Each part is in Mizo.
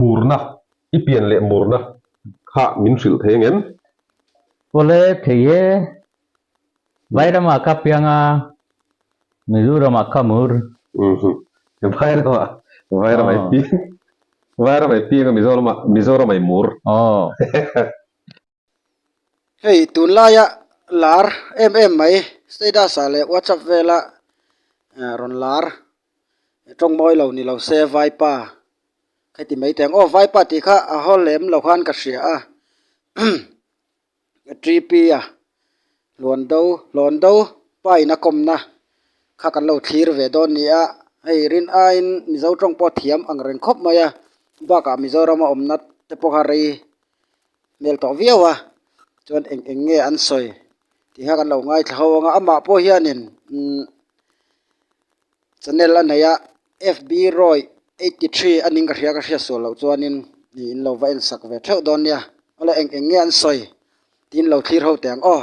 Hurna, i pian leh murna kha min hrilh thei angem? Pawle thei e, Vairamah ka piang a, Mizoramah ka mur. Umm-hum, Vairamah, Vairama i piang, Vairama i piang a, Mizoramah, Mizoramah i mur. Aw. hei tunlaia lar em em mai status ah leh whatsapp vela ahh rawn lar tawng mawi lo ni lo se vaipa ka ti mai thei ang aw vaipa tih kha a haw lem loh khan ka hria a gp a hlawn deuh hlawn deuh pa ina kawmna kha kan lo thlir ve dawn ni a hei rin aiin mizo tawng pawh thiam angreng khawp mai a bakah mizoram awmna te pawh kha rei-- hmel tawh viau a chuan eng eng nge an sawi tih kha kan lo ngaithla ho ang a amah pawh hianin umm channel a neih a fb roy eighty three a ning ka hria ka hria sual loh chuanin ih in lo va en sak ve theuh dawn nia hola eng eng nge an sawi tiin lo thlir ho teh ang aw.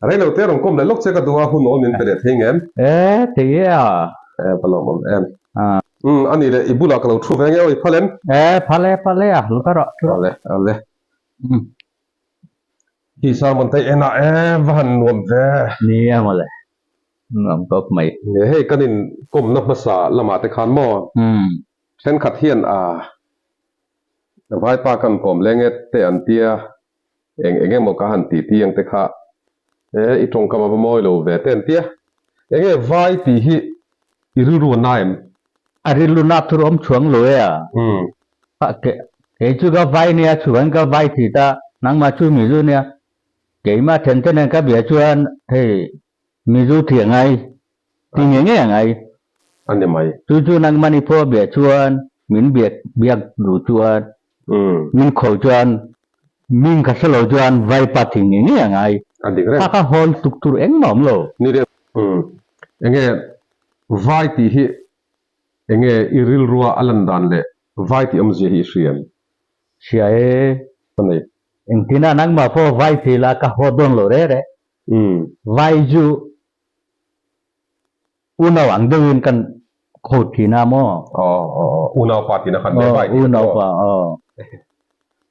A rei lo te, rawn kawm leh lawk che ka duh a, hun aw min pe leh thei ngem. E, thei e a. E, ka lawm awm em. A. Um, a nih leh, i bulah ka lo thu ve nge aw i phal em. E, phal e, phal e a, hlu ta rawh, hlu rawh. A le, a le. Um. Hi Salmantei enah e va han nuam ve. Ni e, maw le, nuam kawp mai. E, hei kan in kawmna hmasa lamah te khan maw? Um. Thenkhat hian a, Vaipa kan kawm le nge te an tia? eng eng emaw ka han titi ang te kha he i tawngkam a va mawi lo ve te an tia enge vai tih hi i rilru na em? A rilru na tur awm chhuang lo e a, kei chu ka vai nia chuan ka vai thih ta nangmah chu mi zu nia keima then te nen ka bia chuan hei Mi zu thliah ngai, ti nge nge a ngai. A ni mai. Chu chu nang mani pawh bia chuan min biak biak duh chuan min khawi chuan min ka hre lo chuan Vaipa ti nge nge a ngai. A dik reng. Kha kha hawn tuk tur engmah a awm lo. Ni reng. Enge Vai tih hi enge i rilrua a lan dan leh Vai tih awmzia hi i hriam? Hria e. Ka nei. Engtin a nangmah pawh Vai ti lah ka haw dawn lo reh reh. Umm. Vai chu unau ang deuh in kan quote thin a maw? Aw aw aw. Unau pa tina khan Vai tih a ni maw?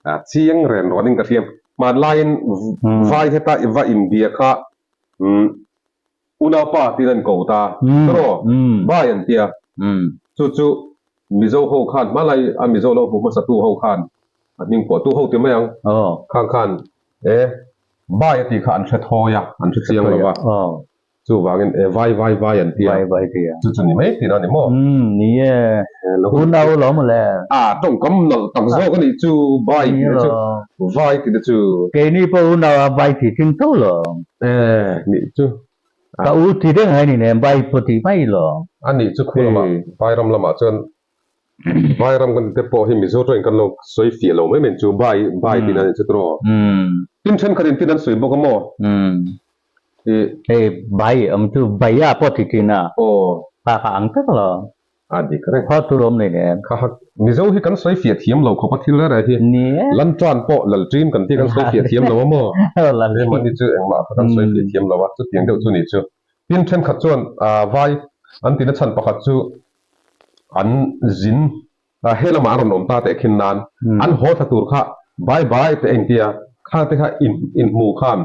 A chiang ren ruan in ka hliam. Hmaan laiin Vai heta i va inbia kha umm unau pa tiin an quote a. Tawraw? Vai an tia. Chu chu Mizo ho khan hma lai a Mizo lo hmuh hmasa tu ho khan an hming pawh tu ho ti mai ang. Khang khan E, Vai a tih kha an hre thawi a, an hre chiang lo a. Chu vangin e, Vai, Vai, Vai an ti a. Chu chu ni mai thin a ni maw? Umm, ni e. Tun a lo maw le? A, tawngkam nalh tak zawk a nih chu Vai tih na chu, Vai tih na chu. Keini pawh u nau a Vai tih thin tho lo. E, nih chu. Ka u tih deng a ni nen, Vai pawh tih mai lo. A nih chu khulamah Vairam lamah chuan Bai ram kan te pawh hi Mizo tawin kan lo sawi fiah lo mai mai chu bai bai tih nan chhut rawh. Tin thenkhat in tih nan sawi bawk a maw? Tih. Hei bai awm chu baia pawh ti thin a. Aw. Kha kha ang tak lo. A dik ka reng. Khaw tur awm nei leh em. Kha kha. Mizo hi kan sawi fiah thiam lo khawp a thil rera hi. Ni e. Lantuan pawh Laltrim kan tih kan sawi fiah thiam lo a maw? Aw Laltrim. He mahni chu engmah kha kan sawi fiah thiam lo a, chutiang deuh chu ni chu. Tin thenkhat chuan aa vai an ti na chhan pakhat chu. an zin a he lamah an rawn awm ta teh khin nan an haw thla tur kha bai bai teh a in tia, khate kha in in hmuh khan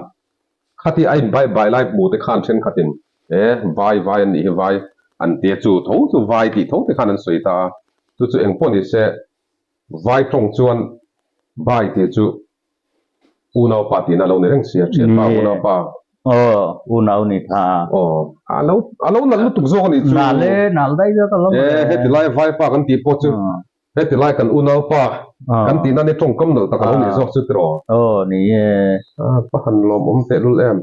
khati a in bai bai lai hmuh te khan thenkhat in he vai vai an nih hi vai an tia chu tho chu vai tih tho te khan an sawi ta a, chu chu engpawh ni se vai tawng chuan bai tih chu U nau pa tihna a lo nei reng si a, Thianpa a u nau pa. Aw, u nau ni tha a. Aw, a lo, a lo nal lutuk zawk a nih chu. Nal le, nal daih zawk a lo e. E, heti lai vaipa kan tih pawh chu heti lai kan u nau pa kan tihna ni a tawngkam nalh tak a lo nih zawk chu tiraw? Aw, ni e. A, pahan lawmawm tehlul em.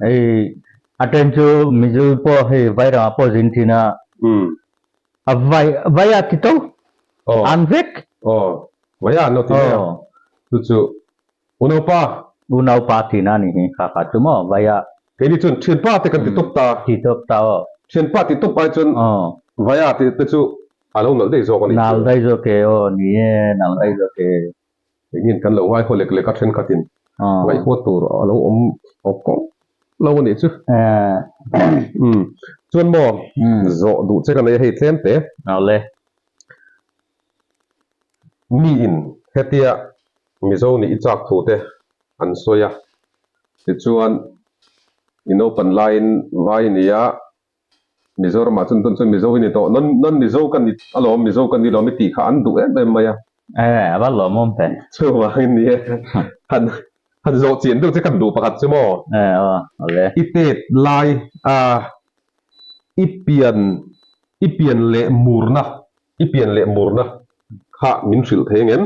Hei a chen chu Mizu pawh hei vai rangah pawh zin thin a, a vai vai a ti to, an vek. Aw, vai a an lo ti mai a, chu chu U Naupa. U Naupa tiin a ni hi, hakha chu maw vai a. Kei ni chuan Thianpa te kan ti tawp ta. Ti tawp ta aw. Thianpa ti tawp ai chuan vai a tih te chu a lo nalh daih zawk a ni. Nalh daih zawk e aw ni e, nalh daih zawk e. eng nge kan lo ngaihawh lek lek a thenkhatin ngaihtuah tur a lo awm awk kawng lo a nih chu umm chuan maw zawh duh che ka nei a hei tlem te ale mi in hetia mizo nih i chak thu te an sawi a tichuan i naupan laiin vai nia. Mizoramah chuan tunsawi Mizo hi ni tawh, non non Mizo ka ni alawm, Mizo ka ni lawm i tih kha an duh em em mai a. Enge a va lawm awm teh? Chuvangin ni e, han han zawhchian deuh che kan duh pakhat chu maw? Enge aw, awle. I tet lai a, i pian i pian leh murna, i pian leh murna kha min hrilh thei ngem.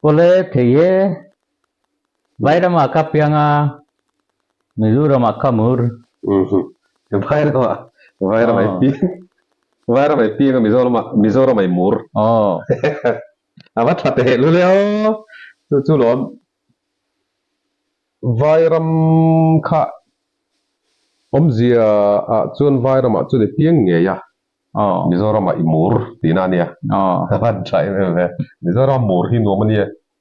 Awle kei e, Vairam ah ka piang a, Mizoram ah ka mur. Vairam ah, Vairam ah i piang. Vairam ah i piang a, Mizoram ah, Mizoram ah i mur. A va tha teh lu le aw. Chu chu lo a. Vairam kha awmzia ah chuan Vairam ah chuan i piang ngei a, Mizoram ah i mur tihna a nia. A va tha em em e. Mizoram ah mur hi nuam a nia.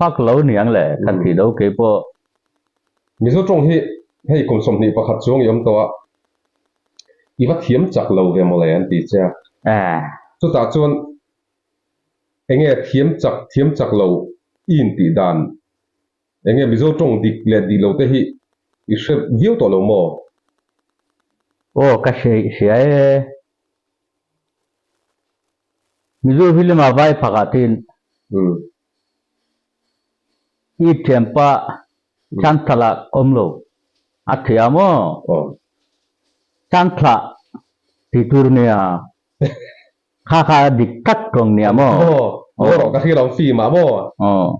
Hak lo niang le, khat ti do kei pawh. Mizo tawng hi hei kum sawmhnih pakhat chuang i awm tawh a, i va thiam chak lo ve mawle an ti che a. Chutah chuan eng nge thiam chak thiam chak lo i intih dan? Eng nge Mizo tawng dik leh dik lo te hi i hre viau tawh lo maw? Aw ka hreih hria e. Mizo hi lem a vai phak ah tin. I thianpa Thanthala awm lo a thia maw? Thantla ti tur nia kha kha dik tlat tawng nia maw? Maw rawh ka hri lo fim ah maw?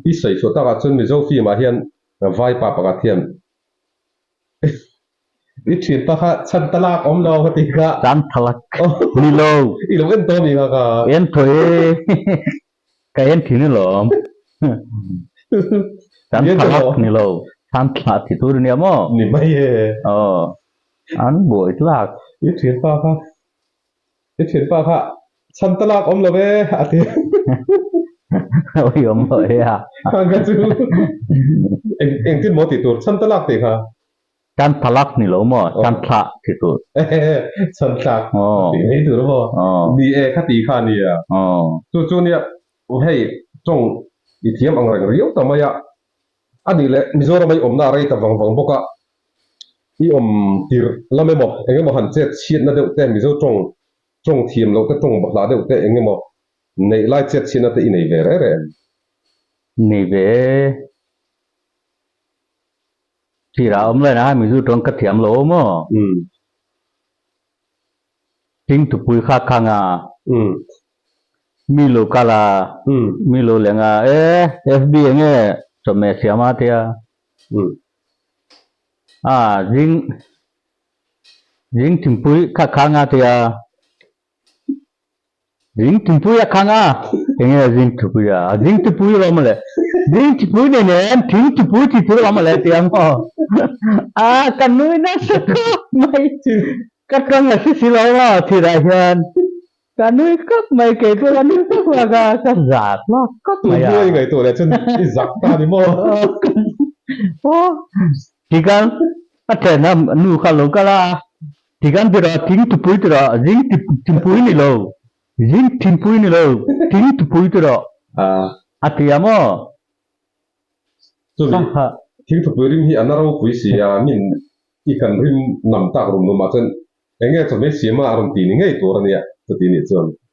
I sawi suah takah chuan Mizo fim ah hian vaipa pakhat hian I thianpa kha Chantalak awm lo a ti kha. Chanthalak ni lo. I lo en tawh a mi kha kha. Entawh e. Ka en thin alawm. Kan thalak ni lo. Than thlah thih tur ania maw? Ni mai e. Aw. An buai tlak. I thianpa kha, i thianpa kha chhan ta lak awm lo e a ti. Ui awm lo e a. Khang kha chu engtin maw tih tur chhan ta lak tih kha Tan thalak ni lo maw? Tan thlak ti tur. Tan thlak ti ngei tur maw? Ni e, kha ti kha nia. Chu chu nia, hei tawng i thiam ang reng riau ta mai a. A nih leh, Mizorama i awmna a rei ta vang vang bawk a. I awm tirh lam emaw, eng emaw han chet chhiatna deuh te, Mizo tawng tawng thiam loh te, tawng bawhhlah deuh te eng emaw neih lai chet chhiatna te i nei ve reh reh em? Nei ve e. Sir ah awm lain ah Mizu tuan ka thiam lo maw? Umm. Hling tupui kha khang a. Umm. Mi lo kal a. Umm. Mi lo leng a. Eh, FB eng e chawhmeh siam a tia. Umm. Ah, Zing, Zing thingpui kha khang a tia. Zing thingpui a khang a, enge a zing thingpui a, a zing thingpui rawh mawle, zing thingpui nei nen thing thingpui tih chu rawh mawle tia maw? A ka nui nasa khawp mai, ka tang a si si lo a thirah hian ka nui khawp mai, kei chu ka nui khawp khawp a, ka za thlak khawp mai a. Tui buai ngaihtuah leh chuan i zak ta ni maw? Aw, tikal a thlen a nu kha a lo kal a, Tiganbira tling tupui tira zing tlinpui ni lo, zing tlinpui ni lo, tling tupui tira a ti a maw? Chumi tling tupui rim hi a na ropui si a, min i kan rim nam tak rum rum ah chuan enge chawhmeh siam a a rawn ti ni ngei tur a nia, chuti nih chuan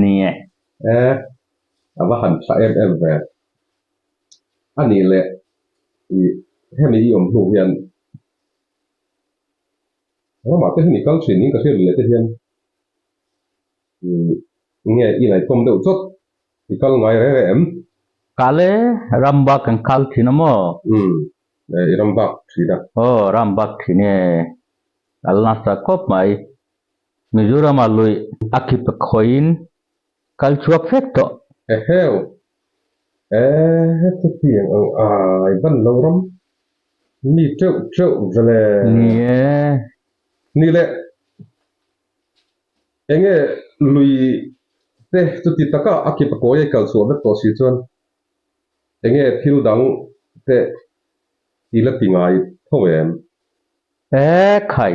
Nia. E, a va han thla em em ve a nih le i, hemi i awm hnu hian ramah te hemi kal thin in ka hriat leh te hian i nge i ngaihtuam deuh chawt, i kal ngai reh reh em? Kal e, ram bak kan kal thin a maw? Umm, e, i ram bak thin a. Aw, ram bak thin e, kal nasa khawp mai. Mizoram-a luih a kip khawiin kal chhuak fek tawh. Eheu! Ehh chutiang ang ai ban lo ram mi teuh teuh veleh. Ni e. Ni le. Enge lui te chuti taka a kip a kawi a i kal chhuah vek tawh si chuan enge thil dang te i la ti ngai tho em? Ehh khai.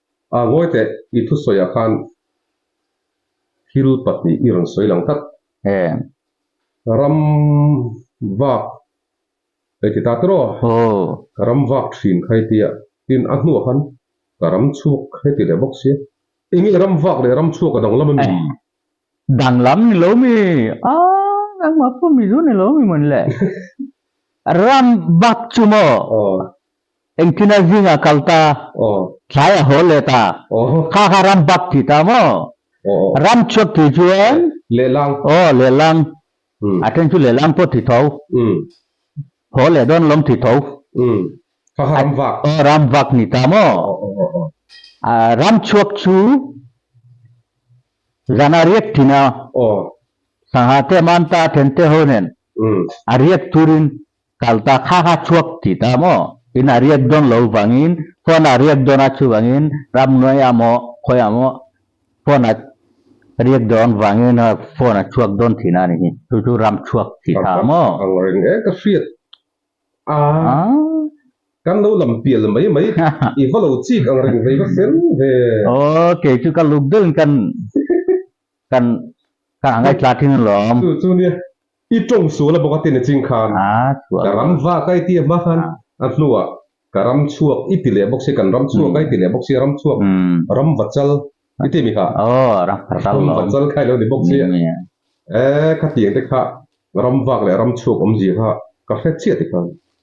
A vawi teh i thusawiah khan thil pahnih i rawn sawi lang tlat. Heng. Ram vak ei ti ta tawh aw. Aw. Ka ram vak thin khai tia tin a hnuah khan ka ram chhuak he ti leh bawk sia. Engeh ram vak leh ram chhuak a dang lam a ni? Danglam ni lo mi a nangma pawh mizu ni lo mi mawn le. Ram bak chu maw engtina zingah kal ta, thlaiah hawl leh ta, kha kha ram bak ti ta maw? Ram chhuak tih chuan lehlang, aw lehlang, a then chu lehlang pawh ti tho. Thaw leh dawn lawm thih tho. Umm. Kha kha ram vak. Aw ram vak ni ta maw? Aw aw aw aw. Ahh ram chhuak chu zan a riak thin a. Aw. Sangha te man ta then te ho nen. Umm. A riak tur in kal ta kha kha chhuak tih ta maw? In a riak dawn lo vang in phone ah a riak dawn a chuvang in ram nuai a maw khawi a maw Phone a riak dawn vangin phone a chhuak dawn thin a ni hi. Chu chu ram chhuak thih hna maw? Ang reng e ka hriat a, kan lo lam pial mai mai, i va lo chik ang reng ve ka fel ve. Aw kei chu ka luk deuhin kan kan kan a ngaihtlak thin alawm. Chu chu nia I tawng sual a bawk a ti ni ching khan ka ram vak a i ti a hma khan a hnu ah ka ram chhuak i ti leh bawk si, kan ram chhuak a i ti leh bawk si a, ram chhuak ram va chal i ti mi ha, ram va chal kha i lo ni bawk si a, e khatiang te kha ram vak leh ram chhuak awm zia kha ka hre chiah ti khan.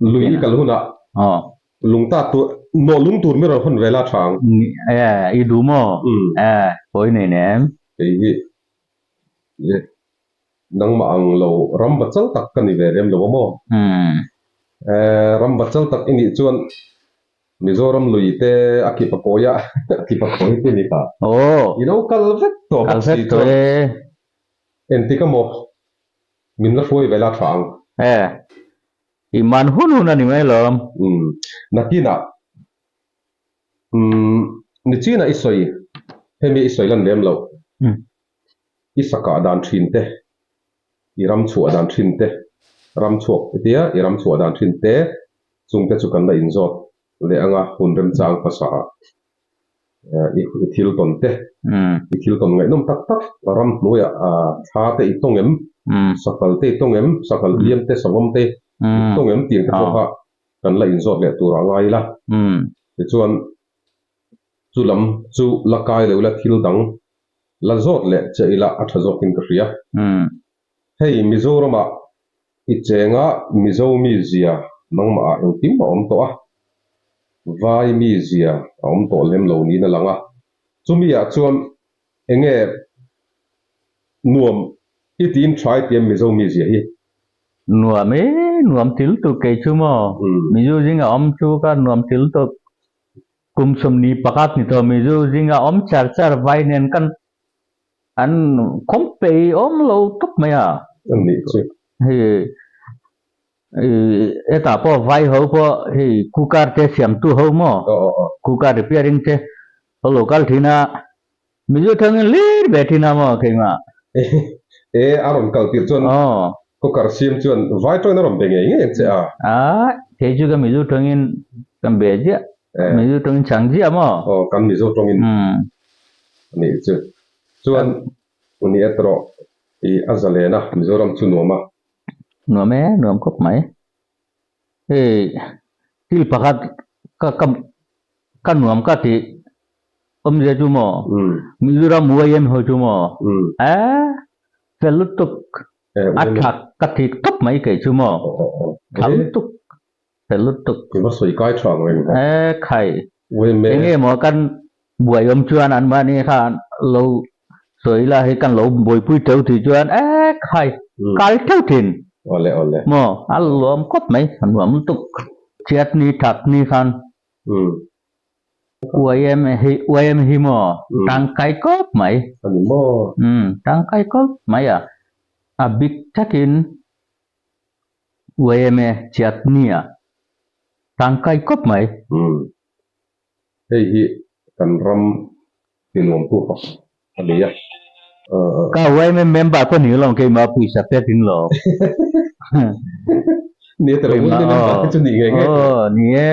Lui i kal hunah lungta tur maw lungtur mi rawn hawn ve la Ṭhang? Aa, i duh maw? Aa, hawi nei ne em? Kei hi nangmah ang lo ram bat chal tak ka ni ve rem lo a maw? Aa, ram bat chal tak i nih chuan Mizoram lui te a kip a kawi a, a kip a kawi te ni kha. Aw! I lo kal vek tawh bawk si chuan, Enti ka maw? Min la hruai ve la tha ang. He. I man hun hun a ni mai lo. Umm. Nakinah. Umm. Ni chinah i sawi. Hemi i sawi lan lem lo. Umm. I sakah dan thin te. I ram chhuah dan thin te. Ram chhuak e tia i ram chhuah dan thin te. Chungte chu kan la inzawt leh anga hun remchang hmasa ah. I thil tawn te, i thil tawn ngaihnawm tak tak, ram hnuaia thla te i tawng em, sakal te i tawng em, sakal hliam te, sangawm te i tawng em tih te pawh kha kan la inzawt leh tur a ngai ila. Tichuan, chu lam chu la kai lo ila thil dang la zawt leh chiah ila a tha zawkin ka hria. Hei Mizoramah i chenga Mizo mi zia nangmahah engkim a awm tawh a, vai mi zia a awm tawh lem lo niin a lang a. Chumiah chuan enge nuam i tiin tha i tiam Mizo mi zia hi? Nuam e, nuam til tur kei chu maw? Mizo zing a awm chu kha nuam til tur kum sawmni pakhat ni tawh Mizo zing a awm char char vai nen kan An khawmpei awm lo tawp mai a. An nih chu. Hei i heta pawh vai ho pawh hei cooker te siamtu ho maw? Aw aw aw. Cooker repairing te ho lo kal thin a. Mizo thangin lir ve thin a maw keimah? E a rawn kal tirh chuan cooker siam chuan vai tawin a rawn be ngei ngei ang che a. A, kei chu kan Mizo tawngin kan be ziah, Mizo tawngin chhang ziah maw? Aw, kan Mizo tawngin. Umm. a nih chu. Chuan u nih a trawh tih a za len a, Mizoram chu nuam a. Nuam e, nuam khawp mai. Hei thil pakhat ka ka ka nuam ka tih awm zia chu maw? Mizoram u a en ho chu maw? E fel lutuk, a thlak ka thik khawp mai kei chu maw? Thla lutuk. Hreh lutuk. Tiva sawi kai tha ang reng hawk. Eh khai. Umm eng nge maw kan buai awm chuan an mahni kha an lo sawi ila hi kan lo buaipui teuh tih chuan eh khai kal teuh thin. Awle awle. Maw a luam kawt mai a nuam lutuk. Chiat ni tak ni khan. Umm. Uaim hi uaim hi maw tangkai kawp mai. Ani maw. Umm tangkai kawp mai a a bik thakin. YMA Chiatni ah tlang kai kawp mai. Umm. Hei hi kan ram tinuamtu tak a ni a. Ka YMA member pawh ni lawm keimah puisa pek ding lo. Ni e, Tiravulte member te chu ni ngei ngei. Aw, ni e.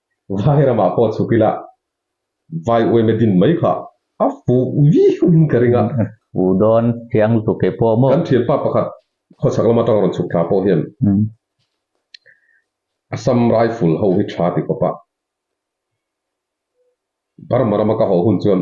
Vai ramah pawh chhuk ila, Vai Uaima din mai kha a fuh viauhin ka ring a. U Dawn thiang tluk e pawh maw? Kan thianpa pakhat khawchhak lam atang rawn chhuk thla pawh hian Assam Rifle ho hi tha ti khawp a, Burma rama ka haw hun chuan